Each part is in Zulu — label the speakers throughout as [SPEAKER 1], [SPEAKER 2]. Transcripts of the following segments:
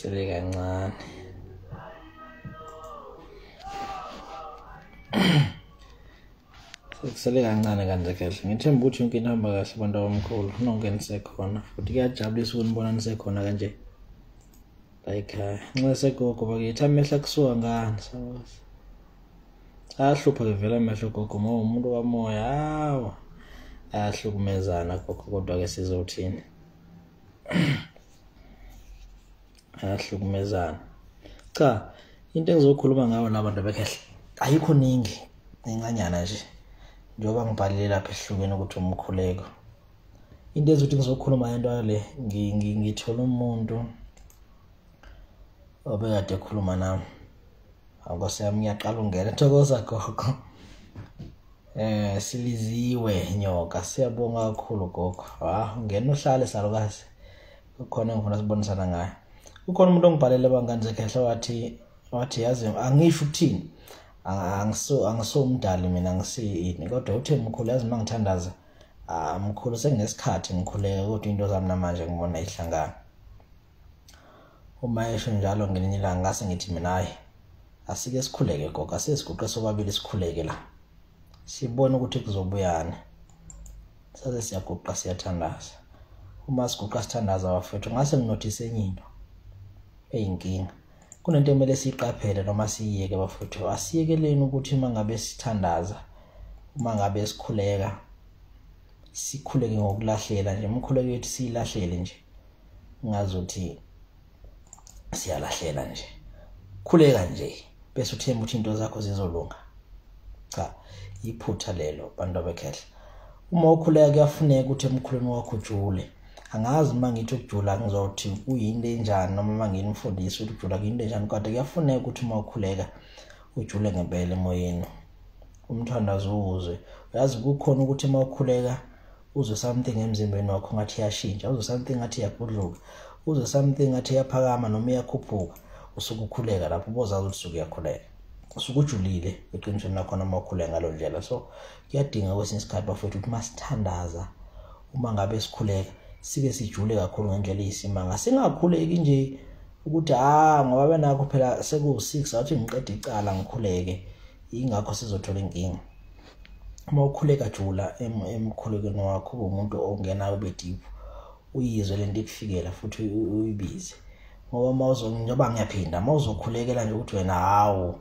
[SPEAKER 1] sele kancane sekusele kancane kanje kahle ngithemba ukuthi yonke into hamba kahle abantu abamkhulu nonke nisekhona futhi kuyajabulisa ukunibona nisekhona kanje layikhaya nxa segogo bakithi amehla kusuka ngani sabazi ahlupha ke vele amehlo gogo ngoba umuntu kamoya hawa ayahlukumezana gogo kodwa ke sizothini ayahlukumezana cha into engizokhuluma ngayo la bantu bekhehle ayikho ningi incanyana nje njengoba ngibhalile lapha ehlukene ukuthi umkhuleko into ezothi ngizokhuluma yento le ngithola umuntu obekade ekhuluma nami awukose yami ngiyaqala ungena thokoza gogo eh siliziwe nyoka siyabonga kakhulu gogo ha ngena uhlale salukazi kukhona ngifuna sibonisana ngayo kukhona umuntu ongibhalele bangani zekhehla wathi wathi yazi angisho ukuthini angiso angiso umdali mina ngisiyini kodwa uthe mkhulu yazi mangithandaza ah mkhulu senginesikhathi ngikhuleke kodwa into zami namanje ngibona ihlangana uma esho njalo ngelinye ilanga ngase ngithi mina hayi asike sikhuleke gogo asesiguqe sobabili sikhuleke la sibone ukuthi kuzobuyana saze siyaguqa siyathandaza uma siguqa sithandaza bafethu ngase nginothise enye into eyinkinga kunento ekumele siyiqaphele noma siyiyeke bafuthu asiyekeleni ukuthi uma ngabe sithandaza uma ngabe sikhuleka sikhuleke ngokulahlela nje umkhuleko yethu siyilahlele nje ngazothi siyalahlela nje khuleka nje bese uthemba ukuthi into zakho zizolunga cha iphutha lelo bantu abekhehle uma ukhuleka kuyafuneka ukuthi emkhulweni wakho ujule angazi uma ngithi ukujula ngizothi kuyinto enjani noma uma nginimfundisa ukuthi ukujula kuyinto enjani kodwa kuyafuneka ukuthi uma ukhuleka ujule ngempela emoyeni umthandazo uwuzwe uyazi kukhona ukuthi uma ukhuleka uzwe something emzimbeni wakho ngathi iyashintsha uzwe something ngathi iyagudluka uzwe something ngathi iyaphakama noma iyakhuphuka usuke ukhuleka lapho ubozazi ukuthi usuke uyakhuleka usuke ujulile eqinisweni lakho noma ukhuleka ngalo ndlela so kuyadinga kwesinye isikhathi bafowethu ukuthi masithandaza uma ngabe sikhuleka sibe sijule kakhulu ngendlela eyisimanga singakhuleki nje ukuthi ah ngoba benakho phela seku-6 athi ngiqeda icala ngikhuleke ingakho sizothola inkinga uma ukhuleka jula emkhulekweni wakho umuntu ongenayo bediphu uyizwe lento ikufikela futhi uyibize ngoba uma uzo njengoba ngiyaphinde uma uzokhulekela nje ukuthi wena hawu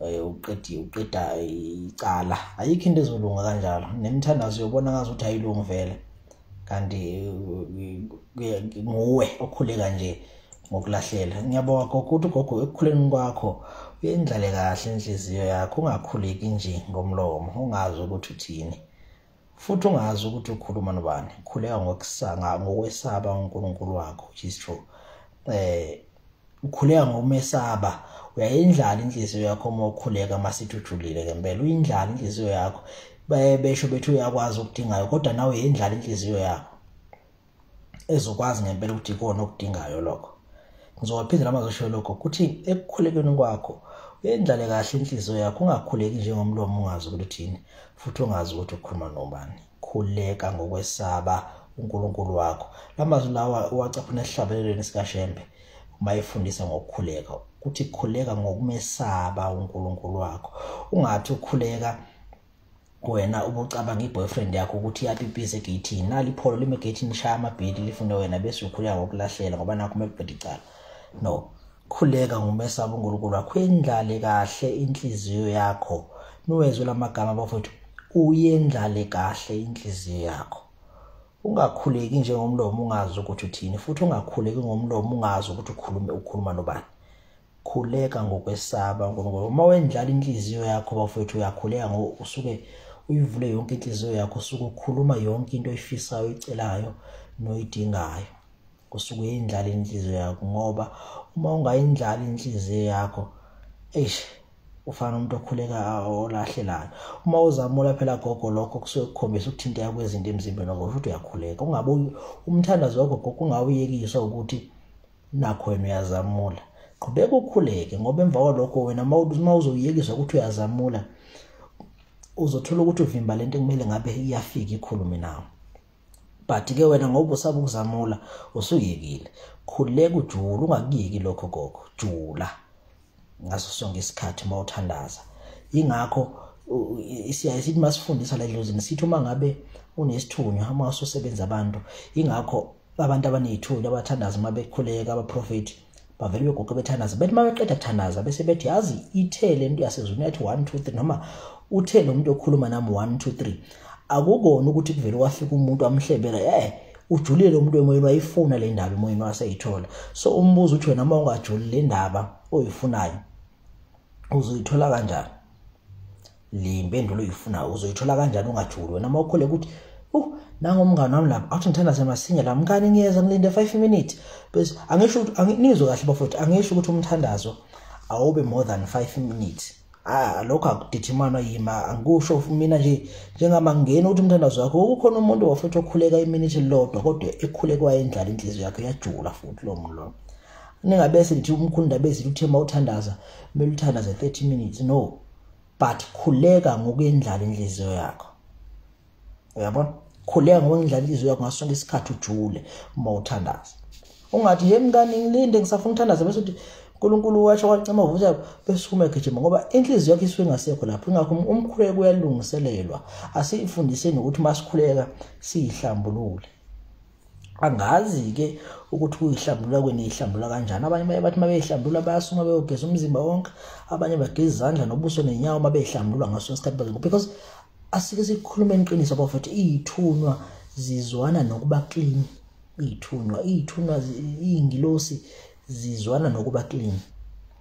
[SPEAKER 1] eh, uqedi uqeda icala ayikho into ezolunga kanjalo nemithandazo yobona ngazi ukuthi ayilungi vele kanti eh, nguwe okhuleka nje ngokulahlela ngiyabonga gogo ukuthi gogo ekukhuleni kwakho uyendlale kahle inhliziyo yakho ungakhuleki nje ngomlomo ungazi ukuthi uthini futhi ungazi ukuthi ukhuluma nobani khuleka ngokusanga ngokwesaba uNkulunkulu wakho which is true eh ukhuleka ngokumesaba uyayindlala inhliziyo yakho uma ukhuleka masithi ujulile ngempela uyindlala inhliziyo yakho besho bethi uyakwazi ukudingayo kodwa nawe yindlala inhliziyo yakho ezokwazi ngempela ukuthi ikona okudingayo lokho ngizowaphinde nami azosho lokho ukuthi ekukhulekeni kwakho uyendlale kahle inhliziyo yakho ungakhuleki njengomlomo ungazi ukuthi uthini futhi ungazi ukuthi ukhuluma nobani khuleka ngokwesaba uNkulunkulu wakho lamazwi lawa uwacaphuna esihlabelelweni sikaShembe uma efundisa ngokukhuleka ukuthi khuleka ngokumesaba uNkulunkulu wakho ungathi ukhuleka wena ubucabanga i-boyfriend yakho ukuthi iyapipisa egeyithini nali ipholo lime egeyithini lishaya amabhedi lifune wena bese ukhuleka ngokulahlela ngoba nakho uma kubheda icala no khuleka ngumesaba unkulunkulu wakho yendlale kahle inhliziyo yakho niwezwe la magama bafowethu uyendlale kahle inhliziyo yakho ungakhuleki njengomlomo ungazi ukuthi uthini futhi ungakhuleki ngomlomo ungazi ukuthi ukhulume ukhuluma nobani khuleka ngokwesaba uNkulunkulu uma wendlala inhliziyo yakho bafowethu uyakhuleka ngoba usuke uyivule yonke inhliziyo yakho usuke ukhuluma yonke into oyifisayo oyicelayo noyidingayo usuke uyindlala inhliziyo yakho ngoba uma ungayindlala inhliziyo yakho eish ufana umuntu okhuleka olahlelayo uma uzamula phela gogo lokho kusuke kukhombisa ukuthinteka kwezinto emzimbeni wakho futhi uyakhuleka ungabe umthandazo wakho gogo ungawuyekiswa ukuthi nakho wena uyazamula qhubeka ukhuleke ngoba emva kwalokho wena uma uzoyekiswa ukuthi uyazamula uzothola ukuthi uvimba lento kumele ngabe iyafika ikhulume nawo but ke wena ngoba usaba ukuzamula usuyekile khuleka ujula ungakuyeki lokho gogo jula ngaso sonke isikhathi uma uthandaza ingakho siyaye sithi uma sifundisa la edlozini sithi uma ngabe unesithunywa uma ususebenza abantu ingakho abantu abaney'thunywa abathandaza uma bekhuleka abaprofethi bavele begoke bethandaza bethi uma beqeda kuthandaza bese bethi yazi ithe le nto yasezulwini yathi one two three noma uthe lo muntu okhuluma nami one two three akukona ukuthi kuvele kwafika umuntu amhlebela eh ujulile umuntu emoyeni wayifuna le ndaba emoyeni waseyithola so umbuzo uthi wena uma ungajuli le ndaba oyifunayo uzoyithola kanjani le mpendulo uyifunayo uzoyithola kanjani ungajuli wena uma ukhole ukuthi uh nangomngane wami lapha athi ngithanda semasinya la mngane ngiyeza ngilinde 5 minutes bese angisho ukuthi nizwe kahle bafowethu angisho ukuthi umthandazo awube more than 5 minutes ah lokho akudithimana yima angikusho mina nje njengama ngena ukuthi umthandazo wakho ukukhona umuntu wafuthi okhuleka iminute lodwa kodwa ekhulekwa endlala inhliziyo yakhe yajula futhi lo muntu lo ningabe sithi umkhunda bezithi uthemba uthandaza kumele uthandaze 30 minutes no but khuleka ngokuyendlala inhliziyo yakho uyabona khuleka ngoba ngidlala ilizwi yakho ngaso sonke isikhathi ujule uma uthandaza ungathi ye mngani ngilinde ngisafuna ukuthandaza bese uthi unkulunkulu washo wacima vuza bese uma egijima ngoba inhliziyo yakho isuke ingasekho lapho ingakho um-, umkhuleko uyalungiselelwa asifundiseni ukuthi uma sikhuleka siyihlambulule angazi-ke ukuthi kuyihlambulula kweni ihlambulula kanjani abanye baye bathi uma beyihlambulula bayasuma beyogeza umzimba wonke abanye bageza izandla nobuso nenyawo uma beyihlambulula ngaso isikhathi because asike sikhulumeni iqiniso bafethu iyithunywa zizwana nokuba clean iyithunywa iyithunywa iyingilosi zizwana nokuba clean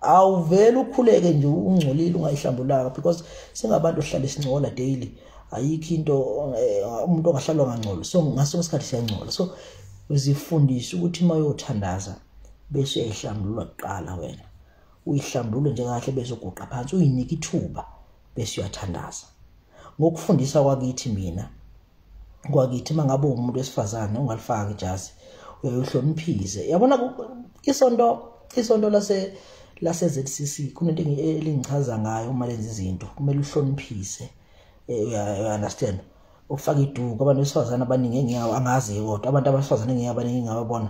[SPEAKER 1] awuvele ukhuleke nje ungcolile ungayihlambulanga because singabantu ohlala isincola daily ayikho into eh, umuntu ongahlalwa ngangcola so ngaso isikhathi siyangcola so uzifundise ukuthi uma uyothandaza bese uyayihlambulula kuqala wena uyihlambulule nje kahle bese uguqa phansi uyinike ithuba bese uyathandaza ngokufundisa kwakithi mina kwakithi mangabe umuntu wesifazane ungalifaki ijazi uyohloniphise yabona isonto isonto lase lase ZCC kunento elingichaza ngayo uma lenza izinto kumele uhloniphise eh, uya understand ukufaka iduku abantu besifazane abaningi engiyawo angazi kodwa abantu abasifazane engiyawo abaningi ngiyababona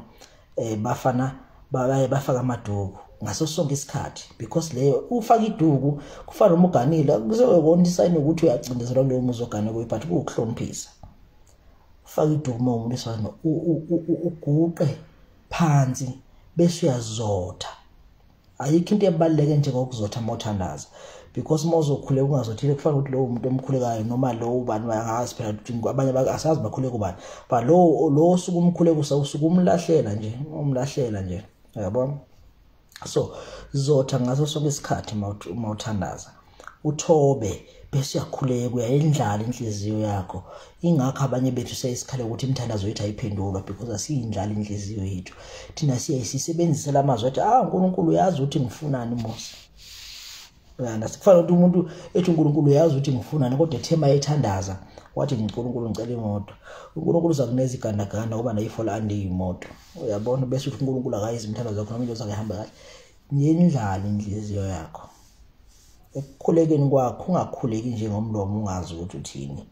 [SPEAKER 1] eh bafana baye bafaka amaduku ngaso sonke isikhathi because leyo ufaka iduku kufana uma uganile kuzokona isayini ukuthi uyacindezelwa kuleyo muzi ogane kuyo but kuwukuhloniphisa ufaka iduku uma umuntu esifana uguqe phansi bese uyazotha ayikho into ebaluleke njengokuzotha mothandaza because uma uzokhuleka ungazothile kufana ukuthi lowo muntu omkhulekayo noma lowo ubani angazi phela ukuthi abanye asazi bakhuleka ubani but lowo lowo suku umkhuleka usuke umlahlela nje umlahlela nje yabo so zotha ngaso sonke isikhathi uma uthandaza uthobe bese uyakhuleka uyayendlala inhliziyo yakho ingakho abanye bethu seyisikhala ukuthi imithandazo yethu ayiphendulwa because asiyindlala inhliziyo yethu thina siyayisisebenzisa la mazwi athi ah unkulunkulu uyazi ukuthi ngifunani mose uyanda sikufana ukuthi umuntu ethi unkulunkulu uyazi ukuthi ngifunani kodwa ethema ethandaza wathi unkulunkulu ngicela imoto unkulunkulu uza kuneza igandaganda ngoba nayifola andiyimoto uyabona bese uthi unkulunkulu akayizi imithandazo yakho noma into zakhe ihamba kahle yendlala inhliziyo yakho ekukhulekeni kwakho ungakhuleki nje ngomlomo ungazi ukuthi uthini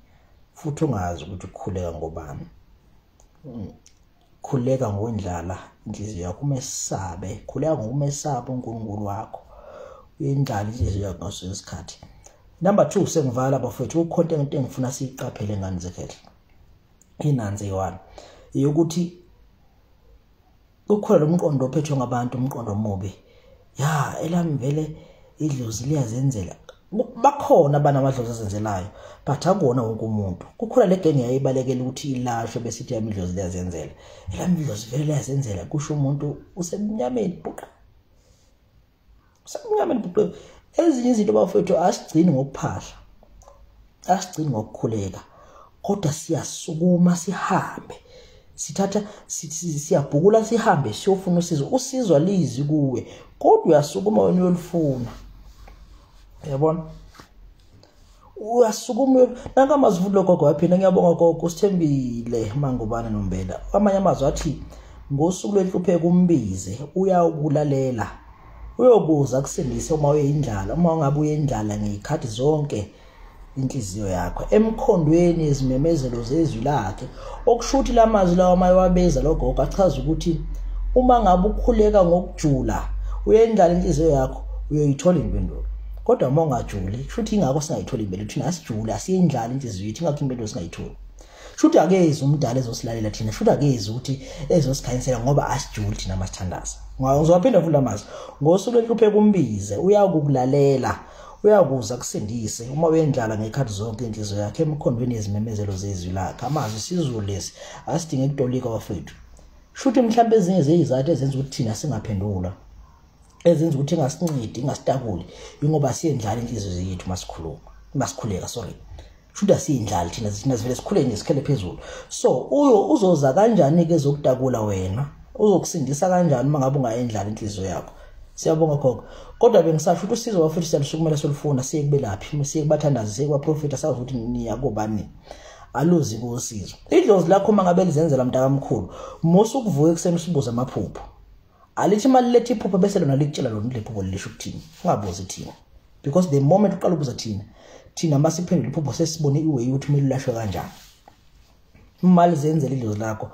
[SPEAKER 1] futhi ungazi ukuthi ukhuleka ngobani hmm. khuleka ngondlala inhliziyo yakho umesabe khuleka ngokumesaba uNkulunkulu wakho uyendlala inhliziyo yakho ngaso isikhathi number 2 sengivala bafethu ukhonto into engifuna siyiqaphele ngani zekhethe inanze yiwani yokuthi ukhona lomqondo ophethwe ngabantu umqondo omubi ya elami vele idlozi liyazenzela bakhona abana amadlozi azenzelayo but akuwona wonke umuntu kukhona le genge yayibalekela ukuthi ilashwe bese ithi yami idlozi liyazenzela elami idlozi vele liyazenzela kusho umuntu usemnyameni buqa Sakungamele bhuqe ezinye izinto bafethu asigcini ngokuphahla. Asigcini ngokukhuleka kodwa siyasukuma sihambe. Sithatha siyabhukula sihambe siyofuna usizo. Usizwa lizi kuwe kodwa uyasukuma wena uyolifuna. Yabona? uyasukuma nanka amazwi logogo waphina ngiyabonga gogo usithembile mangubane nombela amanye amazwi athi ngosuku lwenhlupheko umbize uyawukulalela uyokuza kusindise uma uyindlala uma ungabe uyindlala ngeyikhathi zonke inhliziyo yakho emkhondweni izimemezelo zezwi lakhe okusho ukuthi la mazwi lawa uma ewabeza lo gogo achaza ukuthi uma ngabe ukhuleka ngokujula uyendlala inhliziyo yakho uyoyithola impendulo kodwa uma ungajuli kusho ukuthi ingakho singayitholi impendulo thina asijule asiyendlala inhliziyo yethu ingakho impendulo singayitholi shuthi akezi umdala ezosilalela thina shuthi akezi ukuthi ezosikhanyisela ngoba asijuli thina masithandaza ngizowaphinda futhi amazwi ngosuku lenhluphe kumbize uyakukulalela uyakuza kusindise uma uyendlala ngekhathi zonke inhliziyo yakhe emikhondweni yezimemezelo zezwi lakhe amazwi sizulu lesi asidinge kutolika wafethu shuthi mhlawumbe ezinye zeyizathu ezenza ukuthi thina singaphendula ezenza ukuthi ingasincidi ingasitakuli ingoba siyendlala inhliziyo zethu masikhuluma masikhuleka sorry shuda siyindlali thina thina sivele sikhule nje sikhele phezulu so uyo uzoza kanjani ke zokutakula wena uzokusindisa kanjani uma ngabe ungayendlala inhliziyo yakho siyabonga gogo kodwa bengisasho ukuthi usizo wafuthi siyalusukumela solufuna siye kubelaphi siye kubathandazi siye kwaprofita sazi ukuthi niya kobani aluzi kusizo idlozi lakho uma ngabe lizenzela mntakamkhulu musa ukuvuka ekuseni usibuze amaphupho alithi imali lethi iphupho bese lona likutshela lona ukuthi lephupho lisho ukuthini ungabuzi thina because the moment uqala ukubuza thina thina uma siphendula iphupho sesibone iway ukuthi kumele ulashwe kanjani imali zenzela idlozi lakho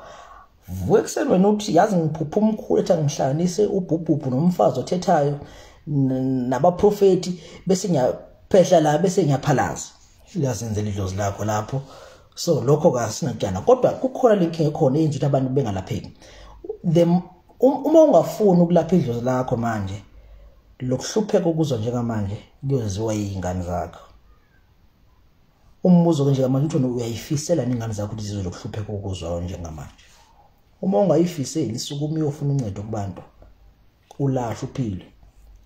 [SPEAKER 1] vuka ekuseni wena uthi yazi ngiphupha umkhulu ethi angihlanganise ubhubhubhu nomfazi othethayo nabaprofethi bese ngiyaphehla la bese ngiyaphalaza uyazenzela idlozi lakho lapho so lokho kasinakutshana kodwa kukhona lenkinga ekhona eyenza ukuthi abantu bengalapheki the um, uma ungafuni ukulapha idlozi lakho manje lokuhlupheka ukuzwa njengamanje kuyoziwa yingane zakho umbuzo ke njengamanje uthi uyayifisela ningane zakho ukuthi zizwe lokuhlupheka ukuzwa njengamanje uma ungayifiseli sukuma uyofuna uncedo kubantu ulashwa uphile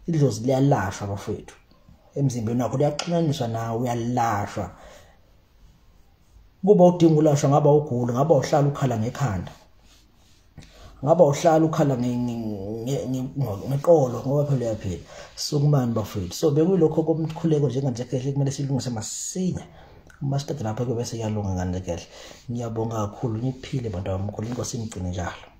[SPEAKER 1] idlozi liyalashwa bafethu emzimbeni wakho liyaxhunyaniswa nawe uyalashwa kuba udinga ulashwa ngaba ugula ngaba uhlala ukhala ngekhanda ngaba uhlala ukhala ngeqolo ngoba phela uyaphila sukumani bafethu so bekuyilokho komkhuleko njenganje kehle kumele silungise masinya uma siqeda lapho ke bese iyalunga ngane kehle ngiyabonga kakhulu niphile bantu bamkhulu inkosi imgcine njalo